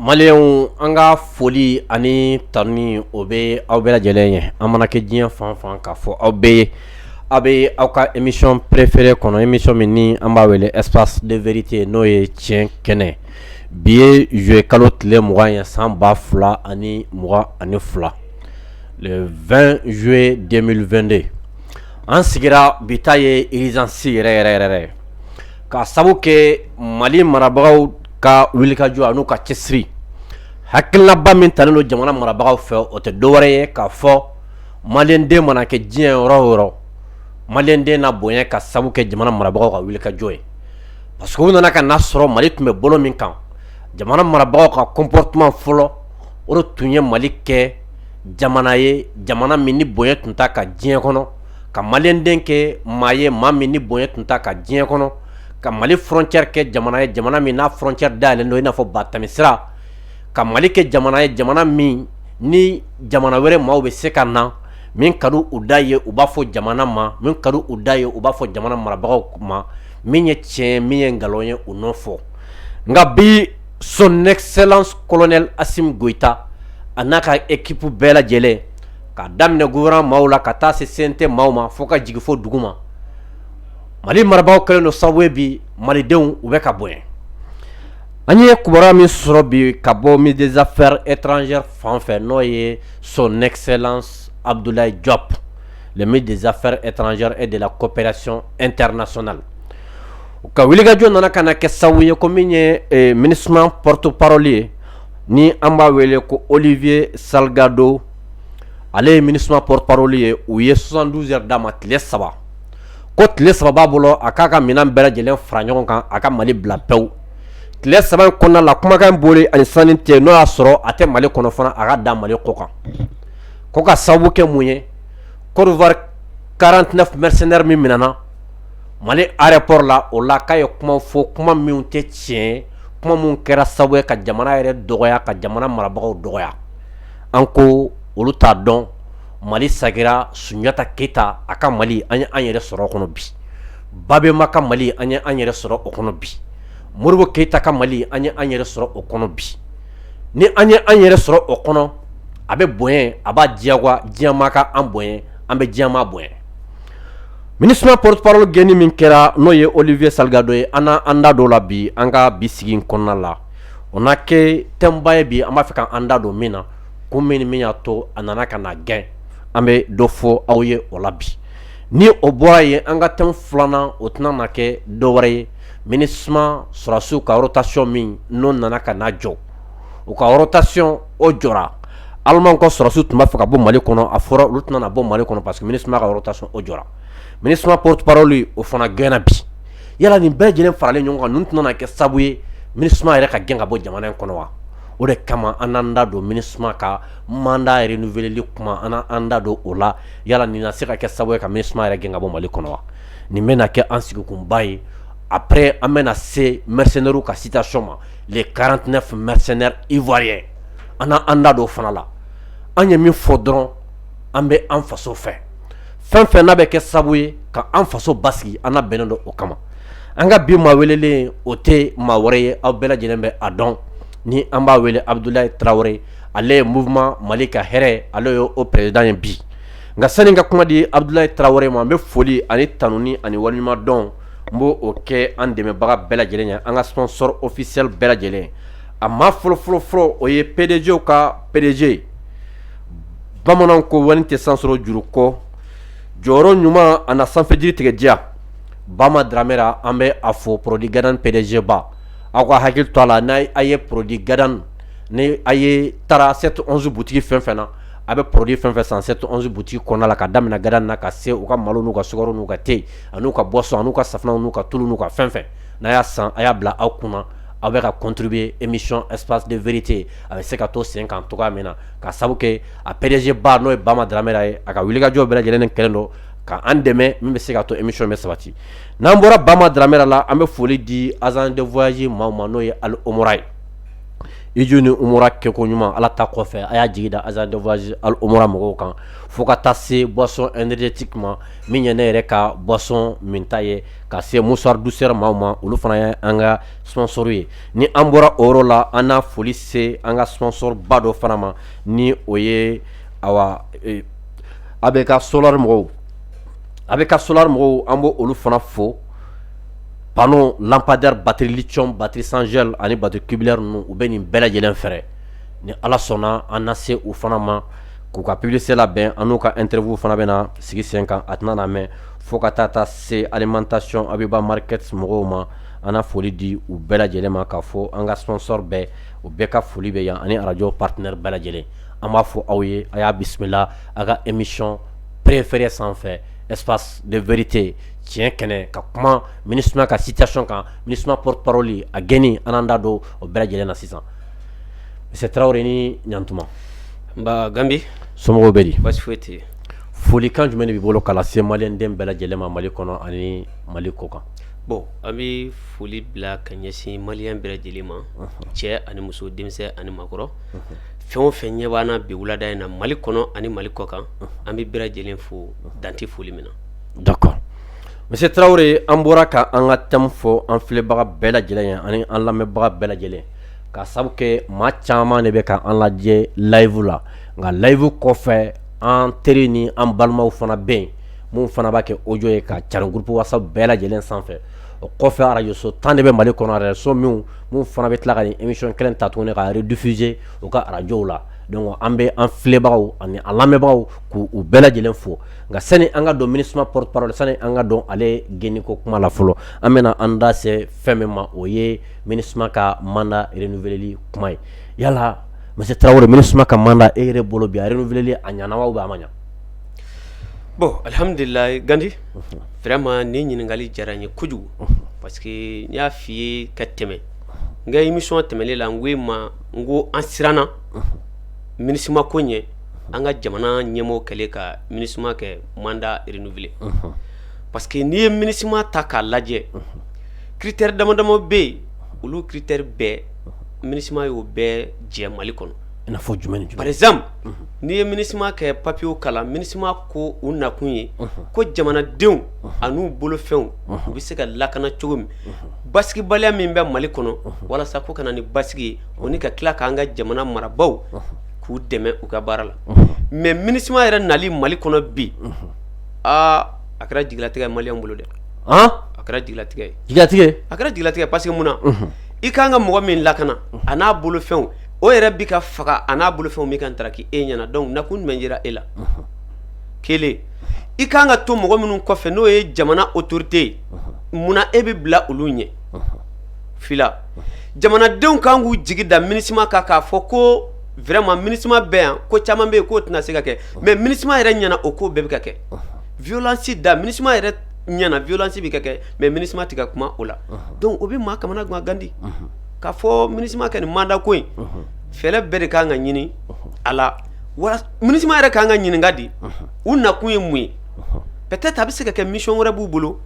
Maliyɛnw an ka foli ani tanuni o bɛ aw bɛɛ lajɛlen ye an mana kɛ diɲɛ fan fan k'a fɔ aw bɛɛ ye A bɛ aw ka émission préférée kɔnɔ émission min ni an b'a wele espace de vérité n'o ye tiɲɛ kɛnɛ bi ye juillet kalo tile mugan ye san ba fila ani mugan ani fila le vingt juillet deux mille vingt-deux an sigira bi ta ye urgence yɛrɛ yɛrɛ yɛrɛ ye ka sababu kɛ mali marabagaw ka wulikajɔ ani u ka cɛsiri hakilinaba min talen don jamana marabagaw fɛ o tɛ dɔwɛrɛ ye k'a fɔ maliyɛnden mana kɛ diɲɛ yɔrɔ o yɔrɔ maliyɛnden na bonya ka sabu kɛ jamana marabagaw ka wulikajɔ ye parce que u nana ka n'a sɔrɔ mali tun bɛ bolo min kan jamana marabagaw ka comportement fɔlɔ o le tun ye mali kɛ jamana ye jamana min ni bonya tun t'a kan diɲɛ kɔnɔ ka maliyɛnden kɛ maa ye maa min ni bonya tun t'a kan diɲɛ kɔnɔ ka mali frontière kɛ jamana ye jamana min n'a frontière dayɛlɛlen don i n'a fɔ ba tɛmɛsira ka mali kɛ jamana ye jamana min ni jamana wɛrɛ maaw bɛ se ka na min ka di u da ye u b'a fɔ jamana ma min ka di u da ye u b'a fɔ jamana marabagaw ma min ye tiɲɛ min ye nkalon ye u n'o fɔ nka bi son excellence colonel Assimi Goïta a n'a ka équipe bɛɛ lajɛlen k'a daminɛ gouvernement maaw la ka taa se CNT maaw ma fo ka jigin fo dugu ma mali marabagaw kɛlen don sababu ye bi malidenw u bɛ ka bonya An ye kiba min sɔrɔ bi ka bɔ midzafɛ etranz fan fɛ n'o ye son nɛgɛgɛnli abudula jɔp mɛ dzfɛ etranz e de la kopɛracon etersona la u ka wulikajɔ nana ka kɛ sababu ye ko min ye minis poroteparli ye ni an b'a wele ko olifiye sagadon ale ye minis poroparli ye u ye sonsan duz d'a ma tile saba ko tile saba bolo a k'a ka minɛn bɛɛ lajɛlen fara ɲɔgɔn kan a ka mali bila pewu tile saba kɔnɔna la kumakan in bɔli ani san cɛ n'o y'a sɔrɔ a tɛ mali kɔnɔ fana a ka da mali kɔ kan ko ka sababu kɛ mun ye Côte d'Ivoire quarante-neuf mercenaires min minɛna mali aéroport la o la k'a ye kuma fɔ kuma minnu tɛ tiɲɛ kuma minnu kɛra sababu ye ka jamana yɛrɛ dɔgɔya ka jamana marabagaw dɔgɔya an ko olu t'a dɔn mali sagira sunjatata keyita a ka mali an ye an yɛrɛ sɔrɔ kɔnɔ bi Babemba ka Mali an ye an yɛrɛ sɔrɔ o kɔnɔ bi, Modibo Keyita ka Mali an ye an yɛrɛ sɔrɔ o kɔnɔ bi, ni an ye an yɛrɛ sɔrɔ o kɔnɔ, a bɛ bonya, a b'a diyagoya diɲɛ maa ka an bonya, an bɛ diɲɛ maa bonya Minusima porte parole gɛnni min kɛra n'o ye Olivier Salgado ye, an na an da don o la bi an ka bi sigi in kɔnɔna la, o na kɛ thème ba ye bi an b'a fɛ ka an da don min na, kun min ni min y'a to a nana ka na gɛn, an bɛ dɔ fɔ aw ye o la bi. ni o bɔra yen an ka thème filanan o tɛna na kɛ dɔ wɛrɛ ye MINUSMA sɔrɔdasiw ka rotation min n'o nana ka na jɔ u ka rotation o jɔra alimanw ka sɔrɔdasiw tun b'a fɛ ka bɔ mali kɔnɔ a fɔra olu tɛna bɔ mali kɔnɔ parce que MINUSMA ka rotation o jɔra MINUSMA porte-parole o fana gɛnna bi yala nin bɛɛ lajɛlen faralen ɲɔgɔn kan ninnu tɛna na kɛ sabu ye MINUSMA yɛrɛ ka gɛn ka bɔ jamana in kɔnɔ wa o de kama an n'an da don MINUSMA ka mandat renouveleli kuma an n'an da don o la yala nin na se ka kɛ sababu ye ka MINUSMA yɛrɛ gɛn ka bɔ Mali kɔnɔ wa? Nin bɛna kɛ an sigikunba ye après an bɛna se mercenaires ka situation ma les 49 mercenaires ivoiriens an na an da don o fana la, an ye min fɔ dɔrɔn an bɛ an faso fɛ, fɛn o fɛn n'a bɛ kɛ sababu ye ka an faso basigi an na bɛnnen don o kama, an ka bi maa welelen o tɛ maa wɛrɛ ye aw bɛɛ lajɛlen bɛ a dɔn ni an b'a wele Abudulayi Tarawele. ale ye mouvement Mali ka hɛrɛ ale ye o président ye bi nka sani ka kuma di Abudulayi Tarawele ma n bɛ foli ani tanuni ani waleɲumandɔn n b'o kɛ an dɛmɛbaga bɛɛ lajɛlen ye an ka sponsor officiel bɛɛ lajɛlen a maa fɔlɔfɔlɔfɔlɔ o ye PDG ka PDG bamananw ko wari tɛ san sɔrɔ juru kɔ jɔyɔrɔ ɲuman a na sanfɛjiri tigɛ diya Bama Dramera an bɛ a fɔ produit Gadan PDG ba aw ka hakili to a la n'a ye produit Gadan Ni a ye taara 711 boutique fɛn fɛn na a bɛ produit fɛn fɛn san 711 boutique kɔnɔna la ka daminɛ Gadan na ka se u ka malo n'u ka sukaro n'u ka thé an'u ka boisson n'u ka safunɛ n'u ka tulu n'u ka fɛn fɛn n'a y'a san a y'a bila aw kunna aw bɛ ka contribuer émission Espace de vérité a bɛ se ka to sen kan cogo min na ka sabu kɛ a PDG ba n'o ye Bama Dramera ye a ka wulikajɔ bɛɛ lajɛlen kɛlen don ka an dɛmɛ min bɛ se ka to émission bɛ sabati n'an bɔra Bama Dramera la an bɛ foli di agence de voyage maaw ma n'o ye Al Omra ye iju ni kɛ ko ɲuman ala ta kɔfɛ a y'a jigi da azz mɔgɔw kan fo ka taa se bɔnsɔn ti ma min ye ne yɛrɛ ka bɔnsɔn min ta ye ka se musabu sera maaw ma olu fana ye an ka ssouru ye ni an bɔra o la an n'a foli se an ka ssoba dɔ fana ma ni o ye a bɛ ka so a bɛ ka somɔgɔw an b' olu fana fo panneau lampadaire batterie lithium batterie sans gel ani batterie tubulaire ninnu u bɛ nin bɛɛ lajɛlen feere ni ala sɔnna an na se u fana ma k'u ka publicité labɛn an n'u ka interview fana bɛna sigi sen kan a tɛna na mɛɛn fo ka taa se alimentation abiba market mɔgɔw ma an na foli di u bɛɛ lajɛlen ma k'a fɔ an ka sponsor bɛɛ u bɛɛ ka foli bɛ yan ani arajo partenaire bɛɛ lajɛlen an b'a fɔ aw ye a y'a bisimila a ka émission préférée sanfɛ espace de vérité tiɲɛ kɛnɛ ka kuma minusma ka situation kan minusma porte-parole a gɛnni an da don o bɛɛ lajɛlen na sisan monsieur tarawele ni ɲantuma nba gandi somɔgɔw bɛ di basi foyi tɛ folikan jumɛn de b'i bolo ka lase maliyɛnden bɛɛ lajɛlen ma mali kɔnɔ ani mali kɔ kan bon an bɛ foli bila ka ɲɛsin maliyɛn bɛɛ lajɛlen ma cɛ ani muso denmisɛn ani maakɔrɔ fɛn o fɛn ɲɛ b'an na bi wulada in na mali kɔnɔ ani mali kɔ kan an bɛ bɛɛ lajɛlen fo dan tɛ foli min na D'accord monsieur tarawele an bɔra ka an ka thème fɔ an filɛbaga bɛɛ lajɛlen ye ani an lamɛnbaga bɛɛ lajɛlen ka sabu kɛ maa caman de bɛ ka an lajɛ layifu la nka layifu kɔfɛ an teri ni an balimaw fana bɛ yen minnu fana b'a kɛ audio ye ka cari groupe whatsapp bɛɛ lajɛlen sanfɛ o kɔfɛ arajoso tan de bɛ mali kɔnɔ arajoso min minnu fana bɛ tila ka nin émission kelen ta tuguni ka rediffuser u ka arajow la donc an bɛ an filɛbagaw ani an lamɛnbagaw k'u bɛɛ lajɛlen fo nka sani an ka don minusma porte-parole sani an ka don ale gɛnni ko kuma la fɔlɔ an bɛna an da se fɛn min ma o ye minusma ka mandat renouveleli kuma ye yala monsieur tarawele minusma ka mandat e yɛrɛ bolo bi a renouveleli a ɲɛna wa ou bien a ma ɲɛ bon alihamdulilayi gandi vraiment nin ɲininkali diyara n ye kojugu parce que n y'a fɔ i ye ka tɛmɛ n ka émission tɛmɛnen la n ko e ma n ko an siranna minusma ko ɲɛ an ka jamana ɲɛmɔgɔ kɛlen ka minusma kɛ mandat renouvelé parce que n'i ye minusma ta k'a lajɛ critère dama dama bɛ yen olu critère bɛɛ minusma y'o bɛɛ jɛ mali kɔnɔ jumɛn par exemple n'i ye minusma kɛ papiyew kalan minusma ko u nakun ye ko jamanadenw an'u bolofɛnw u bɛ se ka lakana cogo min basigibaliya min bɛ mali kɔnɔ walasa ko ka na ni basigi ye o ni ka tila k'an ka jamana marabagaw k'u dɛmɛ u ka baara la mais minusma yɛrɛ nali mali kɔnɔ bi aa a kɛra jigilatigɛ ye maliyɛnw bolo dɛ a kɛra jigilatigɛ ye jigilatigɛ ye a kɛra jigilatigɛ ye parce que mun na i ka kan ka mɔgɔ min lakana a n'a bolofɛnw o yɛrɛ bi ka faga a n'a bolofɛnw bi ka taraki e ɲɛna donc nakun jumɛn yera e la kelen i ka kan ka to mɔgɔ minnu kɔfɛ n'o ye jamana autorité ye munna e bɛ bila olu ɲɛ jamanadenw kan k'u jigi da minusma kan k'a fɔ ko vraiment minusma bɛ yan ko caman bɛ yen k'o tɛna se ka kɛ mais minusma yɛrɛ ɲɛna o ko bɛɛ bɛ ka kɛ violence da minusma yɛrɛ ɲɛna violence bɛ ka kɛ mais minusma tɛ ka kuma o la donc o bɛ maa kamana gan gandi k'a fɔ minusma kɛ nin mandat ko in fɛɛrɛ bɛɛ de kan ka ɲini a la minusma yɛrɛ kan ka ɲininka di u nakun ye mun ye peut-être a bɛ se ka kɛ mission wɛrɛ b'u bolo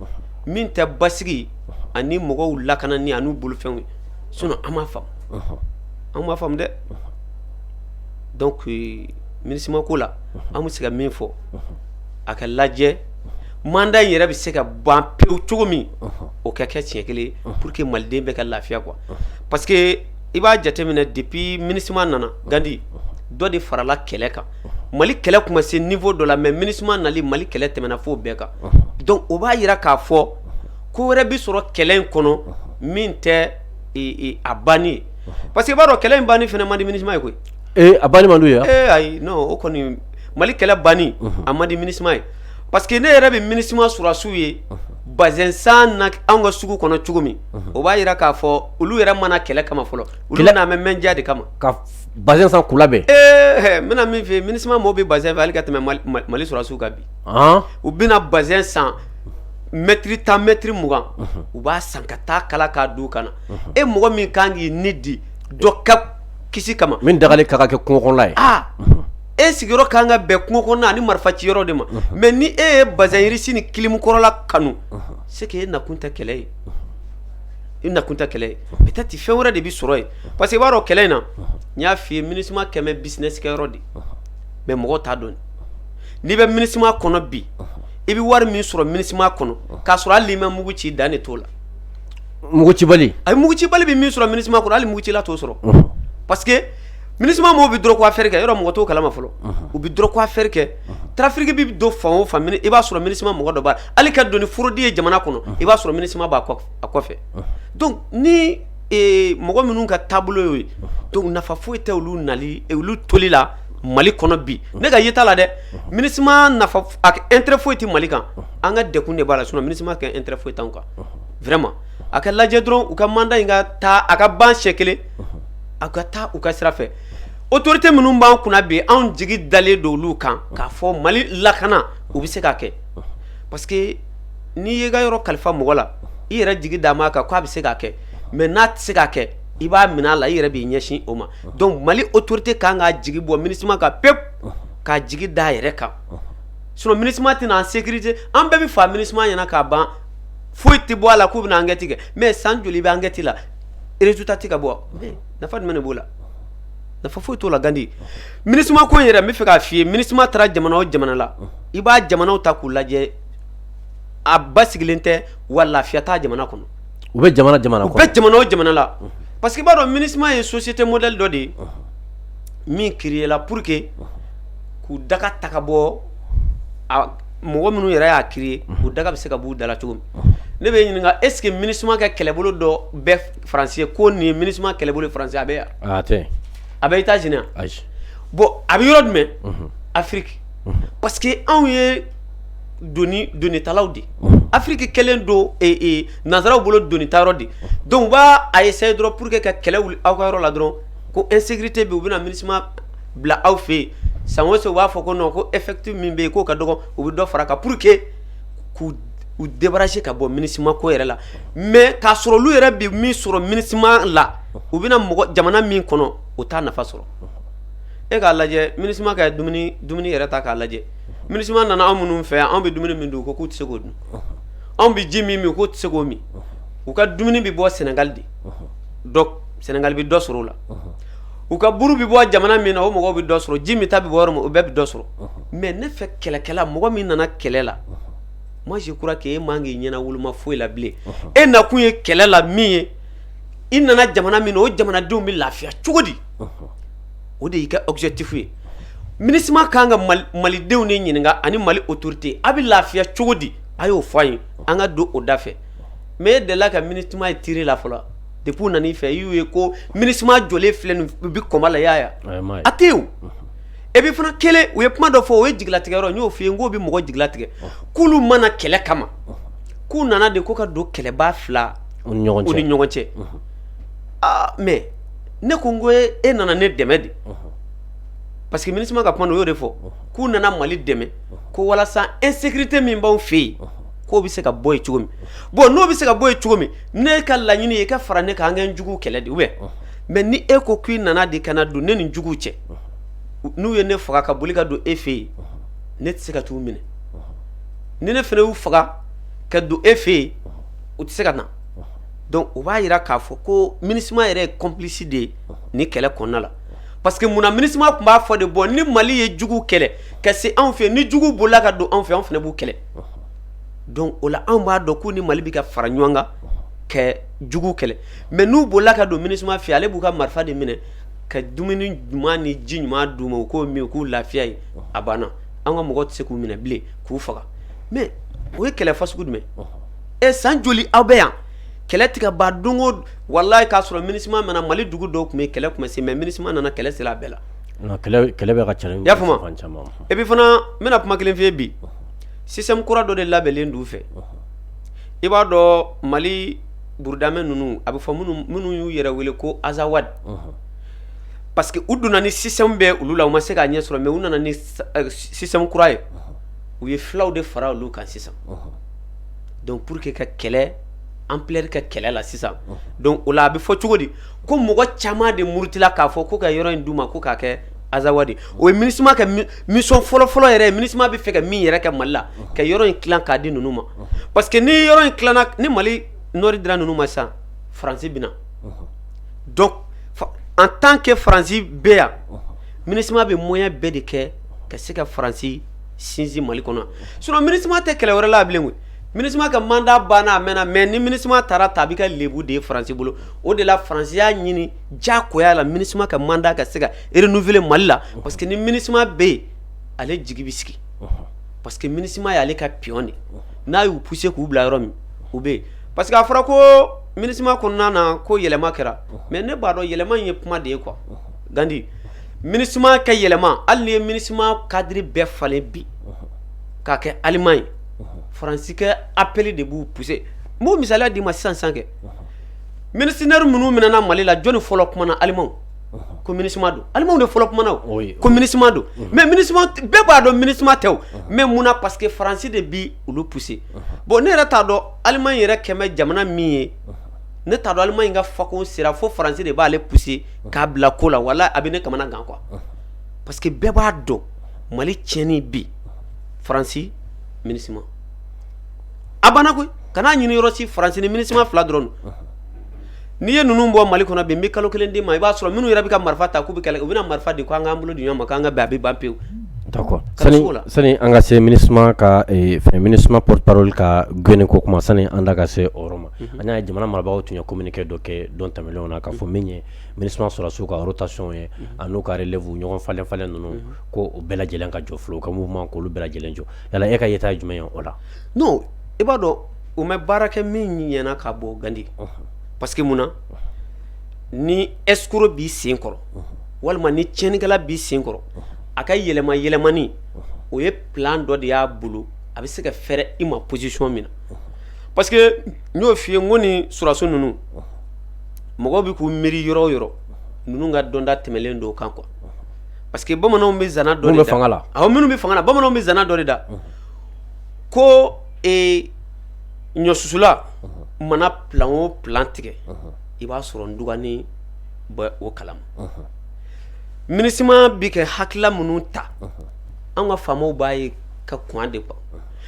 min tɛ basigi ani mɔgɔw lakanani an'u bolofɛnw ye sinon an m'a faamu an m'a faamu dɛ donc minusma ko la an bɛ se ka min fɔ a ka lajɛ mandat in yɛrɛ bɛ se ka ban pewu cogo min o ka kɛ siɲɛ kelen pour que maliden bɛ ka lafiya quoi parce que i b'a jateminɛ depuis minusma nana gandi dɔ de farala kɛlɛ kan mali kɛlɛ tun ma se niveau dɔ la mais minusma nali mali kɛlɛ tɛmɛna fo bɛɛ kan donc o b'a jira k'a fɔ ko wɛrɛ bɛ sɔrɔ kɛlɛ in kɔnɔ min tɛ a banni ye parce que i b'a dɔn kɛlɛ in banni fana man di minusma ye koyi ee a banni man d'u ye ee ayi o kɔni mali kɛlɛ banni a man di minusma ye parce que ne yɛrɛ bɛ minusma sɔrɔdasiw ye bazɛn san na anw ka sugu kɔnɔ cogo min o b'a jira k'a fɔ olu yɛrɛ ma na kɛlɛ kama fɔlɔ olu nalen bɛ mja de kama bazɛn san k'u labɛn ee n bɛna min f'i ye minusma maaw bɛ bazɛn fɛ hali ka tɛmɛ mali sɔrɔdasiw kan bi u bɛ na bazɛn san mɛtiri tan mɛtiri mugan u b'a san ka taa kala k'a d'u kan na e mɔgɔ min kan k'i ni di dɔ ka kisi kama min dagalen ka kɛ kungokɔnɔla ye aa e sigiyɔrɔ ka kan ka bɛn kungokɔnɔna ani marifa ci yɔrɔ de ma mais ni e ye bazɛn riche ni kilimu kɔrɔla kanu c'est que e nakun tɛ kɛlɛ ye i nakun tɛ kɛlɛ ye peut-être fɛn wɛrɛ de bɛ sɔrɔ yen parce que i b'a dɔn kɛlɛ in na n y'a fɔ i ye minusma kɛlen bɛ business kɛyɔrɔ de mais mɔgɔ t'a dɔn n'i bɛ minusma kɔnɔ bi i bɛ wari min sɔrɔ minusma kɔnɔ k'a sɔrɔ hali i ma mugu ci dan de t'o la mugu cibali a mugu cibali bɛ min sɔrɔ minusma kɔnɔ hali mugu cila t'o sɔrɔ parce que minusma maaw bɛ drogue affaire kɛ yɔrɔ mɔgɔ t'o kalama fɔlɔ u bɛ drogue affaire kɛ trafic bɛ don fan o fan i b'a sɔrɔ minusma mɔgɔ dɔ b'a la hali ka don ni fraude ye jamana kɔnɔ i b'a sɔrɔ minusma b'a kɔfɛ donc ni mɔgɔ minnu ka taabolo y'o ye donc nafa foyi tɛ olu nali olu toli la mali kɔnɔ bi ne ka yeta la dɛ minusma intérêt foyi tɛ mali kan an ka dɛgun de b'a la sinon minusma ka intérêt foyi t'an kan vraiment a ka lajɛ dɔrɔn u ka mandat in ka taa a ka ban siɲɛ kelen aw ka taa u ka sira fɛ autorité minnu b'an kunna bi anw jigi dalen don olu kan k'a fɔ mali lakana u bɛ se k'a kɛ parce que n'i y'i ka yɔrɔ kalifa mɔgɔ la i yɛrɛ jigi d'a ma kan k'a bɛ se k'a kɛ mais n'a tɛ se k'a kɛ i b'a minɛ a la i yɛrɛ b'i ɲɛsin o ma donc mali autorité ka kan k'a jigi bɔ minusma kan pewu k'a jigi d'a yɛrɛ kan sinon minusma tɛna an sécurité an bɛɛ bɛ faa minusma ɲɛna k'a ban foyi tɛ bɔ a la k'u bɛna enquête kɛ mais san joli bɛ enquête la résultat tɛ ka bɔ nafa jumɛn ne b'o la nafa foyi t'o la gandi minusma ko in yɛrɛ n bɛ fɛ k'a f'i ye minusma taara jamana o jamana la i b'a jamanaw ta k'u lajɛ a basigilen tɛ wa lafiya t'a jamana kɔnɔ u bɛ jamana jamana u bɛ jamana o jamana la parce que i b'a dɔn minusma ye société modèle dɔ de ye min créé la pour que k'u daga taga bɔ mɔgɔ minnu yɛrɛ y'a créé u daga bɛ se ka b'u da la cogo min ne b'i ɲininka est-ce que minusma ka kɛlɛbolo dɔ bɛ faransi ye ko nin minusma kɛlɛbolo faransi a bɛ yan a bɛ états-unis yan bon a bɛ yɔrɔ jumɛn afiriki parce que anw ye donitalaw de afiriki kɛlen don nansaraw bolo donitayɔrɔ de donc u b'a essayer dɔrɔn pour que ka kɛlɛ aw ka yɔrɔ la dɔrɔn ko insécurité bɛ u bɛna minusma bila aw fɛ yen san o san u b'a fɔ ko non ko effectif min bɛ yen k'o ka dɔgɔ u bɛ dɔ fara a kan pour que k'u débarrasser ka bɔ minusma ko yɛrɛ la mais k'a sɔrɔ olu yɛrɛ bɛ min sɔrɔ minusma la u bɛna mɔgɔ jamana min kɔnɔ o t'a nafa sɔrɔ e k'a lajɛ minusma ka dumuni yɛrɛ ta k'a lajɛ minusma nana anw minnu fɛ yan anw bɛ dumuni min dun u ko k'u tɛ se k'o dun anw bɛ ji min min k'u tɛ se k'o min u ka dumuni bɛ bɔ sɛnɛgali de sɛnɛgali bɛ dɔ sɔrɔ o la u ka buru bɛ bɔ jamana min na o mɔgɔw bɛ dɔ sɔrɔ ji minta bɛ bɔ min o bɛɛ bɛ dɔ sɔrɔ mais ne fɛ kɛlɛkɛla mɔgɔ min nana kɛlɛ la moi je crois que e man k'i ɲɛna woloma foyi la bilen e na kun ye kɛlɛ la min ye i nana jamana min na o jamanadenw bɛ lafiya cogo di o de y'i ka objectif ye minusma kan ka malidenw de ɲininka ani mali autorité a bɛ lafiya cogo di a y'o fɔ an ye an ka don o da fɛ mais e dela ka minusma ye terrain la fɔlɔ depuis u nan'i fɛ i y'u ye ko minusma jɔlen filɛ nin u bɛ combat la y'a ye a tɛ yen et puis fana kelen u ye kuma dɔ fɔ o ye jigilatigɛ yɔrɔ n y'o f'i ye n k'o bɛ mɔgɔ jigilatigɛ k'olu ma na kɛlɛ kama k'u nana de ko ka don kɛlɛbaa fila u ni ɲɔgɔn cɛ aa mais ne ko n ko e nana ne dɛmɛ de parce que minusma ka kuma na u y'o de fɔ k'u nana mali dɛmɛ ko walasa insécurité min b'aw fɛ yen k'o bɛ se ka bɔ yen cogo min bon n'o bɛ se ka bɔ yen cogo min ne ka laɲini ye i ka fara ne kan an ka juguw kɛlɛ de ye mais ni e ko k'i nana de ka na don ne ni juguw cɛ n'u ye ne faga ka boli ka don e fɛ yen ne tɛ se ka t'u minɛ ni ne fana y'u faga ka don e fɛ yen u tɛ se ka na donc o b'a jira k'a fɔ ko minusma yɛrɛ ye complice de ye ni kɛlɛ kɔnɔna la parce que munna minusma tun b'a fɔ de bon ni mali ye juguw kɛlɛ ka se anw fɛ ni juguw bolila ka don anw fɛ anw fana b'u kɛlɛ donc o la anw b'a dɔn k'u ni mali bɛ ka fara ɲɔgɔn kan ka juguw kɛlɛ mais n'u bolila ka don minusma fɛ ale b'u ka marifa de minɛ ka dumuni ɲuman ni ji ɲuman d'u ma u k'o min u k'u lafiya ye a banna an ka mɔgɔ tɛ se k'u minɛ bilen k'u faga mais o ye kɛlɛ fasugu jumɛn ye san joli aw bɛ yan kɛlɛ tɛ ka ban donc walayi k'a sɔrɔ minusma ma na mali dugu dɔw tun bɛ kɛlɛ tun ma se mais minusma nana kɛlɛ sera a bɛɛ la Kɛlɛ ka ca i y'a faamu et puis fana n bɛna kuma kelen f'i ye bi système kura dɔ de labɛnnen d'u fɛ i b'a dɔn mali burudamɛ ninnu a bɛ fɔ minnu y'u yɛrɛ wele ko azawadi parce que u donna ni système bɛ olu la u ma se k'a ɲɛ sɔrɔ mais u nana ni système kura ye u ye fulaw de fara olu kan sisan donc pour que ka kɛlɛ ampleur ka kɛlɛ la sisan donc o la a bɛ fɔ cogo di ko mɔgɔ caman de murutila k'a fɔ ko ka yɔrɔ in d'u ma ko k'a kɛ azawadi o ye minusma ka mission fɔlɔfɔlɔ yɛrɛ minusma bɛ fɛ ka min yɛrɛ kɛ mali la ka yɔrɔ in tila k'a di ninnu ma parce que ni yɔrɔ in tilanna ni mali nord dira ninnu ma sisan faransi bɛna donc en tant que faransi bɛ yan minusma bɛ moyen bɛɛ de kɛ ka se ka faransi sinsin mali kɔnɔ sinon minusma tɛ kɛlɛ wɛrɛ la bilen koyi minusma ka mandat banna a mɛnna mais ni minusma taara ta a bɛ ka lebu de ye faransi bolo o de la faransi y'a ɲini diyagoya la minusma ka mandat ka se ka renouveler mali la parce que ni minusma bɛ yen ale jigi bɛ sigi parce que minusma y'ale ka pion de n'a y'u pousser k'u bila yɔrɔ min u bɛ yen parce que a fɔra ko minusma kɔnɔna na ko yɛlɛma kɛra mais ne b'a dɔn yɛlɛma in ye kuma de ye quoi gandi minusma ka yɛlɛma hali n'i ye minusma cadre bɛɛ falen bi k'a kɛ allemand ye faransi ka appel de b'u pousser n b'o misaliya d'i ma sisan sisan kɛ mercenaire minnu minɛna mali la jɔnni fɔlɔ kumana allemagne ko minusma don allemagne de fɔlɔ kumana ko minusma don mais minusma bɛɛ b'a dɔn minusma tɛ o mais munna parce que faransi de bɛ olu pousser bon ne yɛrɛ t'a dɔn allemagne yɛrɛ kɛmɛ jamana min ye ne t'a dɔn allemagne ka fako sera fo faransi de b'ale pousser k'a bila ko la wala a bɛ ne kamana gan quoi parce que bɛɛ b'a dɔn mali tiɲɛnin bi faransi MINUSMA a banna koyi kana ɲini yɔrɔ si faransi ni MINUSMA fila dɔrɔn don n'i ye ninnu bɔ mali kɔnɔ bi n bɛ kalo kelen d'i ma i b'a sɔrɔ minnu yɛrɛ bɛ ka marifa ta k'u bɛ kɛlɛ u bɛna marifa di ko an k'an bolo di ɲɔgɔn ma k'an ka bɛn a bɛ ban pewu d'accord sani an ka se MINUSMA ka eh, fɛn MINUSMA porte-parole ka gɛnni ko kuma sani an da ka se o yɔrɔ ma an y'a ye jamana marabagaw tun ye communiqué dɔ kɛ don tɛmɛnlenw na k'a fɔ min ye MINUSMA sɔrɔdasiw ka rotation ye an'u ka relève ɲɔgɔn falen falen ninnu ko o bɛɛ lajɛlen ka jɔ fɔlɔ u ka mouvement k'olu bɛɛ lajɛlen jɔ yala e ka yeta ye jumɛn ye o la non i b'a dɔn u ma baara kɛ min ɲɛna k'a bɔ gandi parce que mun na ni escroc b'i sen kɔrɔ walima ni cɛnnikɛla b'i sen kɔrɔ a ka yɛlɛma yɛlɛmani o ye plan dɔ de y'a bolo a bɛ se ka fɛrɛ i ma position min na parce que n y'o fɔ i ye ko ni sɔrɔdasi ninnu mɔgɔ bɛ k'u miiri yɔrɔ o yɔrɔ ninnu ka dɔnta tɛmɛnlen don o kan quoi parce que bamananw bɛ zana dɔ de da, minnu bɛ fanga la, awɔ minnu bɛ fanga la, bamananw bɛ zana dɔ de da, unhun, ko ee ɲɔsusula mana plan o plan tigɛ, unhun, i b'a sɔrɔ ntuganin bɛ o kalama, unhun, MINUSMA bɛ ka hakilila minnu ta, unhun, anw ka faamaw b'a ye ka kɔn a de quoi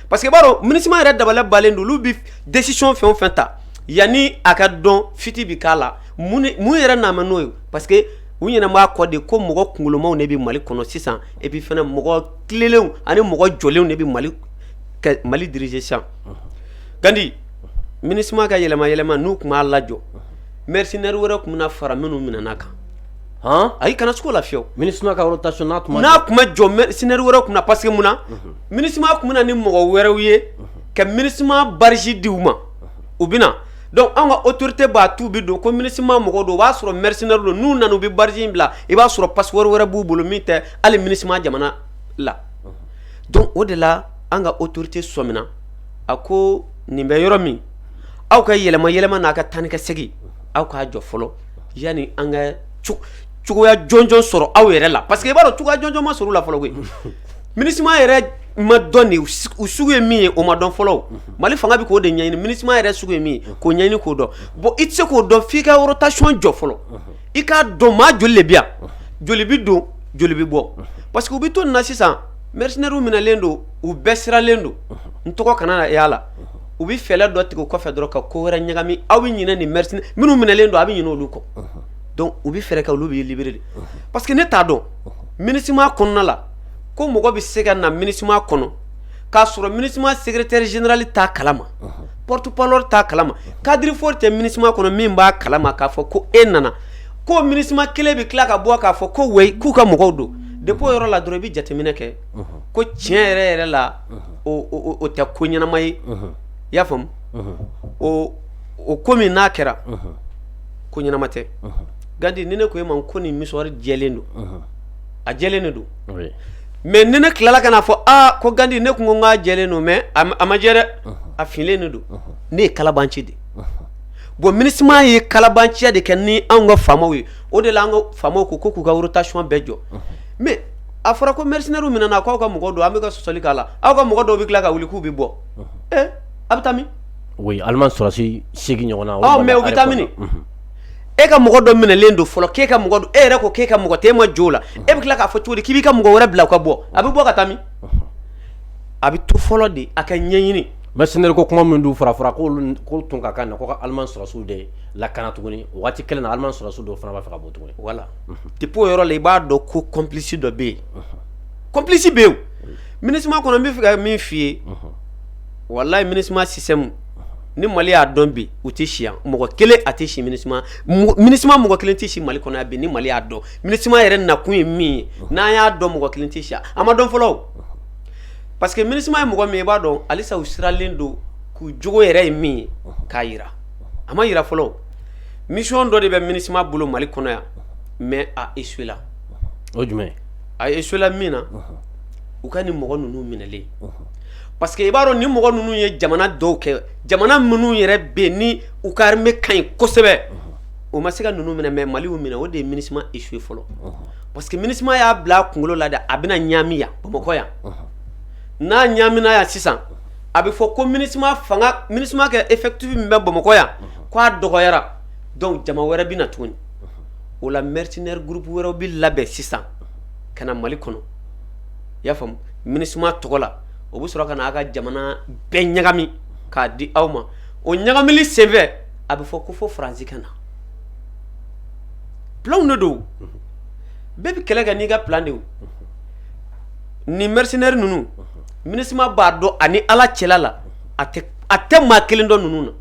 parce que i b'a dɔn MINUSMA yɛrɛ dabali banlen don, olu bɛ décision fɛn o fɛn ta yanni a ka dɔn fuite bɛ k'a la mun yɛrɛ nana n'o ye parce que u ɲɛna b'a kɔ de ko mɔgɔ kunkolomaw de bɛ mali kɔnɔ sisan et puis fana mɔgɔ tilenlenw ani mɔgɔ jɔlenw de bɛ mali diriger sisan gandi MINUSMA ka yɛlɛma yɛlɛma n'u tun m'a lajɔ mercenaire wɛrɛ tun bɛna fara minnu minɛna kan ayi kana siga o la fiyewu MINUSMA ka rotation n'a tun ma jɔ mercenaire wɛrɛ tun na parce que mun na MINUSMA tun bɛ na ni mɔgɔ wɛrɛw ye ka MINUSMA badge di u ma u bɛ donc an ka autorité b'a to u bɛ don ko MINUSMA mɔgɔ don o b'a sɔrɔ mercenaire don n'u nana u bɛ badge in bila i b'a sɔrɔ passeport wɛrɛ b'u bolo min tɛ hali MINUSMA jamana la donc o de la an ka autorité sɔmina a ko nin bɛ yɔrɔ min aw ka yɛlɛma yɛlɛma n'a ka taa ni ka segin aw k'a jɔ fɔlɔ yanni an ka cogoya jɔnjɔn sɔrɔ aw yɛrɛ la parce que i b'a dɔn cogoya jɔnjɔn ma sɔrɔ u la fɔlɔ koyi MINUSMA yɛrɛ ma dɔn de u sugu ye min ye o ma dɔn fɔlɔ mali fanga bɛ k'o de ɲɛɲini MINUSMA yɛrɛ sugu ye min ye k'o ɲɛɲini k'o dɔn bon i tɛ se k'o dɔn f'i ka rotation jɔ fɔlɔ i k'a dɔn maa joli de bɛ yan joli bɛ don joli bɛ bɔ parce que u bɛ to na sisan mercenairew minɛlen don u bɛɛ siralen don n tɔgɔ kana na y'a la u bɛ fɛɛrɛ dɔ tigɛ o kɔfɛ dɔrɔn ka ko wɛrɛ ɲagami aw bɛ ɲinɛ nin mercenaire minnu minɛlen don a bɛ ɲinɛ olu kɔ donc u bɛ fɛɛrɛ kɛ olu bɛ libérer de parce que ne t'a dɔn minusma kɔnɔna la ko mɔgɔ bɛ se ka na minusma kɔnɔ k'a sɔrɔ minusma secrétaire général t'a kalama porte-parole t'a kalama cadre fort tɛ minusma kɔnɔ min b'a kalama k'a fɔ ko e nana ko minusma kelen bɛ tila ka bɔ k'a fɔ ko ouais k'u ka mɔgɔw don depuis o yɔrɔ la dɔrɔn i bɛ jateminɛ kɛ ko tiɲɛ yɛrɛ yɛrɛ la o tɛ ko ɲɛnama ye i y'a faamu o ko min n'a kɛra ko ɲɛnama tɛ gandi ni ne ko e ma ko nin mouchoir jɛlen don a jɛlen de don mais ni ne tilala ka n'a fɔ ko gandi ne tun ko k'a jɛlen don mais a ma jɛ dɛ a finnen de don ne ye kalabanci de bon minusma ye kalabanciya de kɛ ni anw ka faamaw ye o de la an ka faamaw ko k'u ka rotation bɛɛ jɔ mais a fɔra ko mercenairew minɛna k' aw ka mɔgɔ don an bɛ ka sɔsɔli k'a la aw ka mɔgɔ dɔw bɛ tila ka wuli k'u bɛ bɔ a bɛ taa min allemagne sɔrɔsi seegin ɲɔgɔn na mais u bɛ taa min e ka mɔgɔ dɔ minɛlen don fɔlɔ k'e ka mɔgɔ don e yɛrɛ ko k'e ka mɔgɔ tɛ e ma jɔ a la e bɛ tila k'a fɔ cogo di k'i b'i ka mɔgɔ wɛrɛ bila ka bɔ a bɛ bɔ ka taa min a bɛ to fɔlɔ de a ka ɲɛɲini mercenaire ko kuma min dun fɔra ko tun ka kan ka allemand sɔrɔsiw de lakana tuguni waati kelen na allemand sɔrɔsiw dɔ fana b'a fɛ ka bɔ tuguni voilà depuis o yɔrɔ la i b'a dɔn ko complice dɔ bɛ yen complice bɛ yen minusma kɔnɔ n bɛ fɛ ka min f'i ye walayi minusma système ni mali y'a dɔn bi u tɛ si yan mɔgɔ kelen a tɛ si minusma mɔgɔ kelen tɛ si mali kɔnɔ yan bi ni mali y'a dɔn minusma yɛrɛ nakun ye min ye n'an y'a dɔn mɔgɔ kelen tɛ si yan a ma dɔn fɔlɔ parce que minusma ye mɔgɔ min i b'a dɔn halisa u siralen don k'u jogo yɛrɛ ye min ye k'a jira a ma jira fɔlɔ mission dɔ de bɛ minusma bolo mali kɔnɔ yan mais a échoué la o jumɛn a échoué la min na u ka nin mɔgɔ ninnu minɛlen parce que i b'a dɔn ni mɔgɔ ninnu ye jamana dɔw kɛ jamana minnu yɛrɛ bɛ ni u ka armée ka ɲi kosɛbɛ o ma se ka ninnu minɛ mais mali y'u minɛ o de ye minusma échoué fɔlɔ parce que minusma y'a bila a kunkolo la de a bɛna ɲami yan bamakɔ yan n'a ɲamina yan sisan a bɛ fɔ ko minusma fanga minusma ka effectif min bɛ bamakɔ yan k'a dɔgɔyara donc jama wɛrɛ bɛ na tuguni o la mercenaire groupe wɛrɛ bɛ labɛn sisan ka na mali kɔnɔ i y'a faamu minusma tɔgɔ la o bɛ sɔrɔ ka na a ka jamana bɛɛ ɲagami k'a di aw ma o ɲagamili senfɛ a bɛ fɔ ko fo faransi ka na plan de don bɛɛ bɛ kɛlɛ kɛ n'i ka plan de o nin mercenaire ninnu minusma b'a dɔn ani ala cɛla la a tɛ maa kelen dɔn ninnu na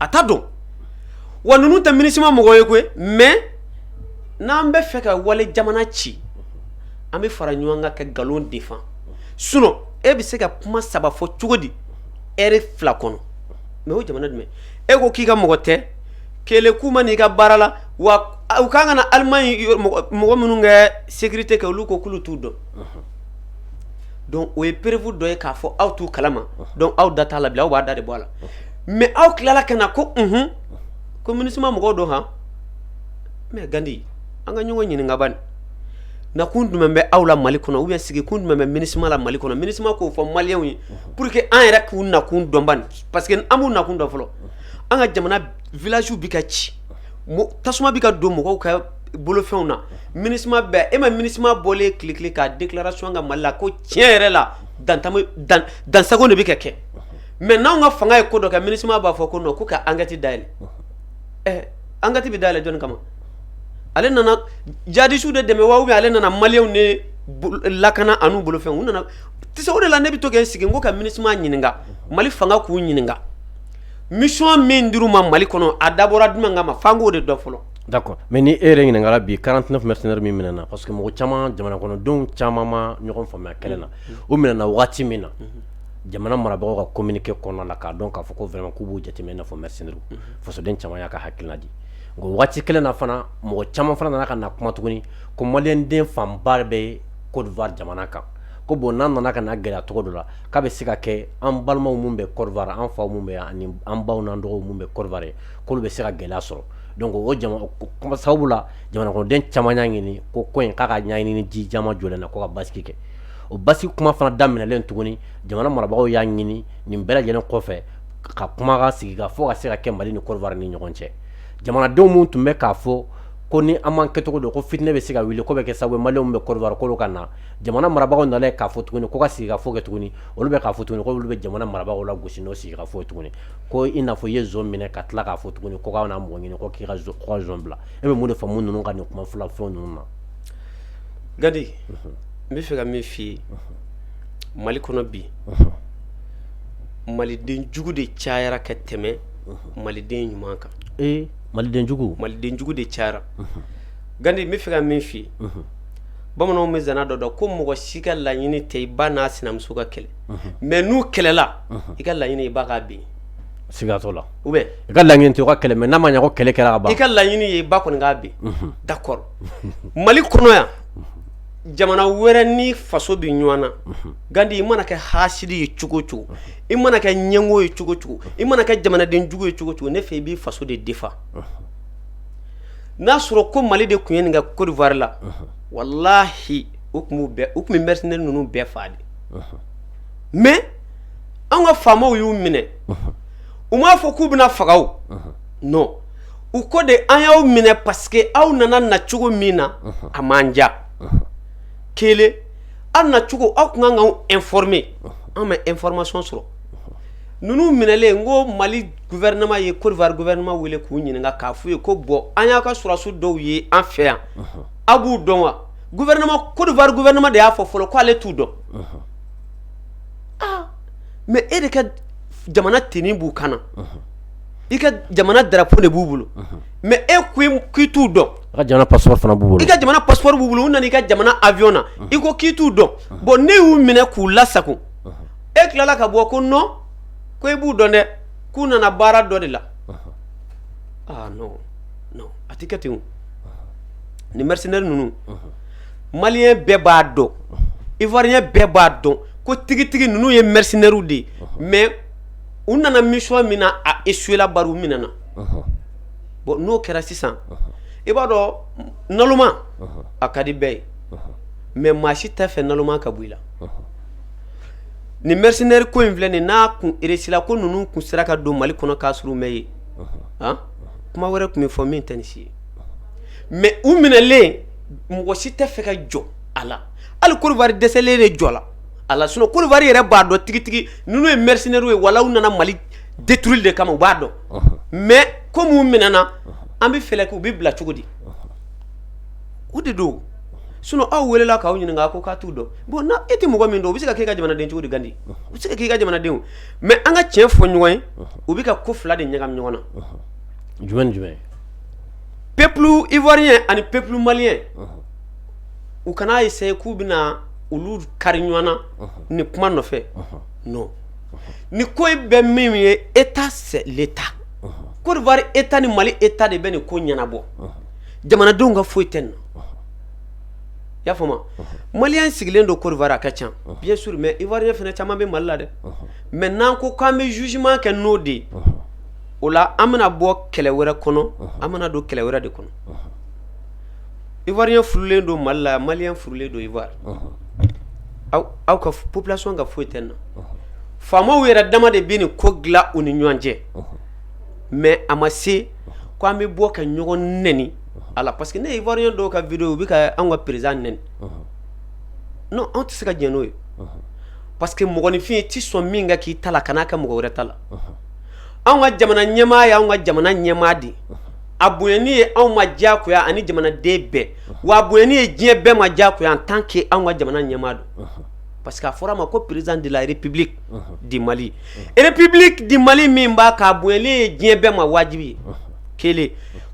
a t'a dɔn wa ninnu tɛ minusma mɔgɔ ye koyi mais n'an bɛ fɛ ka wali jamana ci an bɛ fara ɲɔgɔn kan ka nkalon défend sinon e bɛ se ka kuma saba fɔ cogo di heure fila kɔnɔ mais o jamana jumɛn e ko k'i ka mɔgɔ tɛ kɛlɛ k'u ma n'i ka baara la wa u kan ka na Allemagne mɔgɔ minnu ka sécurité kɛ olu ko k'olu t'u dɔn donc o ye preuve dɔ ye k'a fɔ aw t'u kalama donc aw da t'a la bilen aw b'a da de bɔ a la mais aw tilala ka na ko un ko MINUSMA mɔgɔw don han mais gandi an ka ɲɔgɔn ɲininka bani nakun jumɛn bɛ aw la mali kɔnɔ ou bien sigikun jumɛn bɛ MINUSMA la mali kɔnɔ MINUSMA k'o fɔ maliyɛnw ye pour que an yɛrɛ k'u nakun dɔn ban parce que an m'u nakun dɔn fɔlɔ an ka jamana villagew bɛ ka ci tasuma bɛ ka don mɔgɔw ka bolofɛnw na MINUSMA bɛ yen e ma MINUSMA bɔlen ye tile kelen ka déclaration kɛ mali la ko tiɲɛ yɛrɛ la dansagon de bɛ ka kɛ mais n'an ka fanga ye ko dɔ kɛ MINUSMA b'a fɔ ko non k'u ka enquête dayɛlɛ enquête bɛ dayɛlɛ jɔnni kama ale nana jadisiw de dɛmɛ wa ou bien ale nana maliyɛnw ne lakana an'u bolofɛnw u nana tɛ o de la ne bɛ to ka insister ko ka MINUSMA ɲininka mali fanga k'u ɲininka mission min dir'u ma mali kɔnɔ a dabɔra jumɛn kama f'an k'o de dɔn fɔlɔ d'accord mais ni e yɛrɛ ɲininkala bi quarante-neuf mercenaires min minɛna parce que mɔgɔ caman jamana kɔnɔdenw caman ma ɲɔgɔn faamuya kɛlɛ na o minɛna waati min na jamana marabagaw ka communiqué kɔnɔna la k'a dɔn k'a fɔ ko vraiment k'u b'u jateminɛ i n'a fɔ mercenaires fasoden caman y'a ka hakilina di nka waati kelen na fana mɔgɔ caman fana nana ka na kuma tuguni ko maliyɛn den fanba bɛ Côte d'Ivoire jamana kan ko bon n'an nana ka na gɛlɛya cogo dɔ la k'a bɛ se ka kɛ an balimaw minnu bɛ Côte d'Ivoire an faw minnu bɛ yan ani an baw n'an dɔgɔw minnu bɛ Côte d'Ivoire k'olu bɛ se ka gɛlɛya sɔrɔ donc o jama o kuma sababu la jamanakɔnɔden caman y'a ɲini ko ko in k'a ka ɲɛɲini ni ji jama jɔlen na ko ka basigi kɛ o basigi kuma fana daminɛlen tuguni jamana marabagaw y'a ɲini nin bɛɛ lajɛlen kɔfɛ ka kuma sigikafɔ ka se ka kɛ mali ni Côte d'Ivoire ni ɲɔgɔn cɛ jamanadenw minnu tun bɛ k'a fɔ ko ni an m'a kɛcogo dɔn ko fitinɛ bɛ se ka wuli k'o bɛ kɛ sababu ye maliyɛn minnu bɛ Côte d'Ivoire k'olu ka na jamana marabagaw nana k'a fɔ tuguni ko ka sigikafɔ kɛ tuguni olu bɛ k'a fɔ tuguni olu bɛ jamana marabagaw lagosi n'o sigi ka fɔ tuguni ko i n'a fɔ i ye zon minɛ ka tila k'a fɔ tuguni ko k'aw na mɔgɔ ɲini ko k'i ka zon bila e bɛ mun de faamu ninnu ka nin kuma fila fɛn ninnu na gandi n bɛ fɛ ka min f'i ye mali kɔnɔ bi maliden jugu de cayara ka tɛmɛ maliden ɲuman kan maliden jugu maliden jugu de cayara gandi n bɛ fɛ ka min f'i ye bamananw bɛ zana dɔ da ko mɔgɔ si ka laɲini tɛ i ba n'a sinamuso ka kɛlɛ mais n'u kɛlɛla i ka laɲini ye i ba k'a bin siga t'o la ou bien i ka laɲini t'u ka kɛlɛ mais n'a ma ɲɛ ko kɛlɛ kɛra ka ban i ka laɲini ye i ba kɔni k'a bin d'accord mali kɔnɔ yan jamana wɛrɛ ni faso bɛ ɲɔgɔn na Gandi i mana kɛ hasidi ye cogo cogo i mana kɛ ɲɛngo ye cogo cogo i mana kɛ jamanadenjugu ye cogo cogo ne fɛ i b'i faso de défend n'a sɔrɔ ko mali de tun ye nin kɛ Côte d'Ivoire la wallahi u tun bɛ mercenaires ninnu bɛɛ faa de mais an ka faamaw y'u minɛ u m'a fɔ k'u bɛna faga u ko de an y'aw minɛ parce que aw nana nacogo min na a m'an diya kelen aw nacogo aw tun kan k'anw informer an bɛ information sɔrɔ ninnu minɛlen n ko Mali gouvernement ye Côte d'Ivoire gouvernement wele k'u ɲininka k'a f'u ye ko bon an y'a ka sɔrɔdasiw dɔw ye an fɛ yan aw b'u dɔn wa gouvernement Côte d'Ivoire gouvernement de y'a fɔ fɔlɔ k'ale t'u dɔn aa mais e de ka jamana tenue b'u kan na i ka jamana drapeau de b'u bolo mais e k'i t'u dɔn i ka jamana passeport fana b'u bolo i ka jamana passeport b'u bolo u nana i ka jamana avion na i ko k'i t'u dɔn bon ne y'u minɛ k'u lasago e tilala ka bɔ ko non ko e b'u dɔn dɛ k'u nana baara dɔ de la aa a tɛ kɛ ten nin mercenaire ninnu malien bɛɛ b'a dɔn ivoirien bɛɛ b'a dɔn ko tigitigi ninnu ye mercenaires de ye mais u nana mission min na a échoué la bari u minɛna bon n'o kɛra sisan i b'a dɔn naloma a ka di bɛɛ ye mais maa si tɛ fɛ naloma ka bɔ i la nin mercenaire ko in filɛ nin n'a kun réussi la ko ninnu tun sera ka don mali kɔnɔ k'a sɔrɔ u ma ye a kuma wɛrɛ tun bɛ fɔ min tɛ nin si ye mais u minɛlen mɔgɔ si tɛ fɛ ka jɔ a la hali Côte d'Ivoire dɛsɛlen de jɔ la a la sinon Côte d'Ivoire yɛrɛ b'a dɔn tigitigi ninnu ye mercenaires ye walayi u nana Mali détruire de kama u b'a dɔn mais comme u minɛna an bɛ fɛɛrɛ kɛ u bɛ bila cogo di o de don sinon aw weelela k'aw ɲininka a ko k'a t'u dɔn bon na e tɛ mɔgɔ min dɔn o bɛ se ka k'e ka jamanaden cogo di Gandi o bɛ se ka k'i ka jamanaden o mais an ka tiɲɛ fɔ ɲɔgɔn ye u bɛ ka ko fila de ɲagami ɲɔgɔn na jumɛn ni jumɛn peuple ivoirien ani peuple malien u kana essayer k'u bɛna olu kari ɲɔgɔn na ni kuma nɔfɛ non ni ko bɛ min ye état l'état Côte d'Ivoire état ni Mali état de bɛ nin ko ɲɛnabɔ jamanadenw ka foyi tɛ nin na i y'a faamuya malien sigilen don Côte d'Ivoire a ka ca bien sûr mais ivoirien fana caman bɛ mali la dɛ mais n'an ko k'an bɛ jugement kɛ n'o de ye o la an bɛna bɔ kɛlɛ wɛrɛ kɔnɔ an bɛna don kɛlɛ wɛrɛ de kɔnɔ ivoirien furulen don mali la maliyɛn furulen don ivoire aw ka population ka foyi tɛ nin na faamaw yɛrɛ dama de bɛ nin ko dilan u ni ɲɔgɔn cɛ mais a ma se k' an bɛ bɔ ka ɲɔgɔn neni a la parce que ne ivoirien dɔw ka vidéo u bɛ ka an ka président neni non anw tɛ se ka jɛn n'o ye parce que mɔgɔninfin tɛ sɔn min ka k'i ta la kan'a kɛ mɔgɔ wɛrɛ ta la an ka jamana ɲɛmaa ye anw ka jamana ɲɛmaa de a bonyani ye anw ma diyagoya ani jamanaden bɛɛ wa a bonyani ye diɲɛ bɛɛ ma diyagoya en tant que anw ka jamana ɲɛmaa don parce que a fɔra a ma ko président de la république du mali république du mali min b'a k'a bonyali ye diɲɛ bɛɛ ma wajibi ye kelen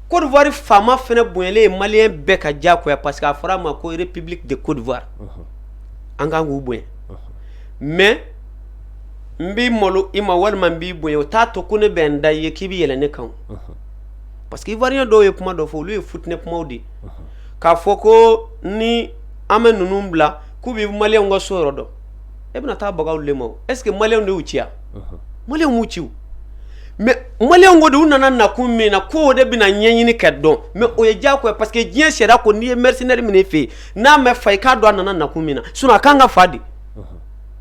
côte d'ivoire faama fana bonyali ye maliyɛn bɛɛ ka diyagoya parce que a fɔra a ma ko république de côte d'ivoire an kan k'u bonya mais n bɛ malo i ma walima n b'i bonya o t'a to ko ne bɛ n da i ye k'i bɛ yɛlɛ ne kan parce que ivoirien dɔw ye kuma dɔ fɔ olu ye fitinɛ kumaw de ye k'a fɔ ko ni an ma ninnu bila k'u bɛ maliyɛnw ka so yɔrɔ dɔn e bɛna taa baga olu de ma o est ce que maliyɛnw de y'u ci wa maliyɛnw m'u ci o mais maliyɛnw ko de u nana nakun min na k'o de bɛna ɲɛɲini ka dɔn mais o ye diyagoya ye parce que diɲɛ sariya ko n'i ye mercenaire minɛ i fɛ yen n'a ma fa i k'a dɔn a nana nakun min na sinon a kan ka fa de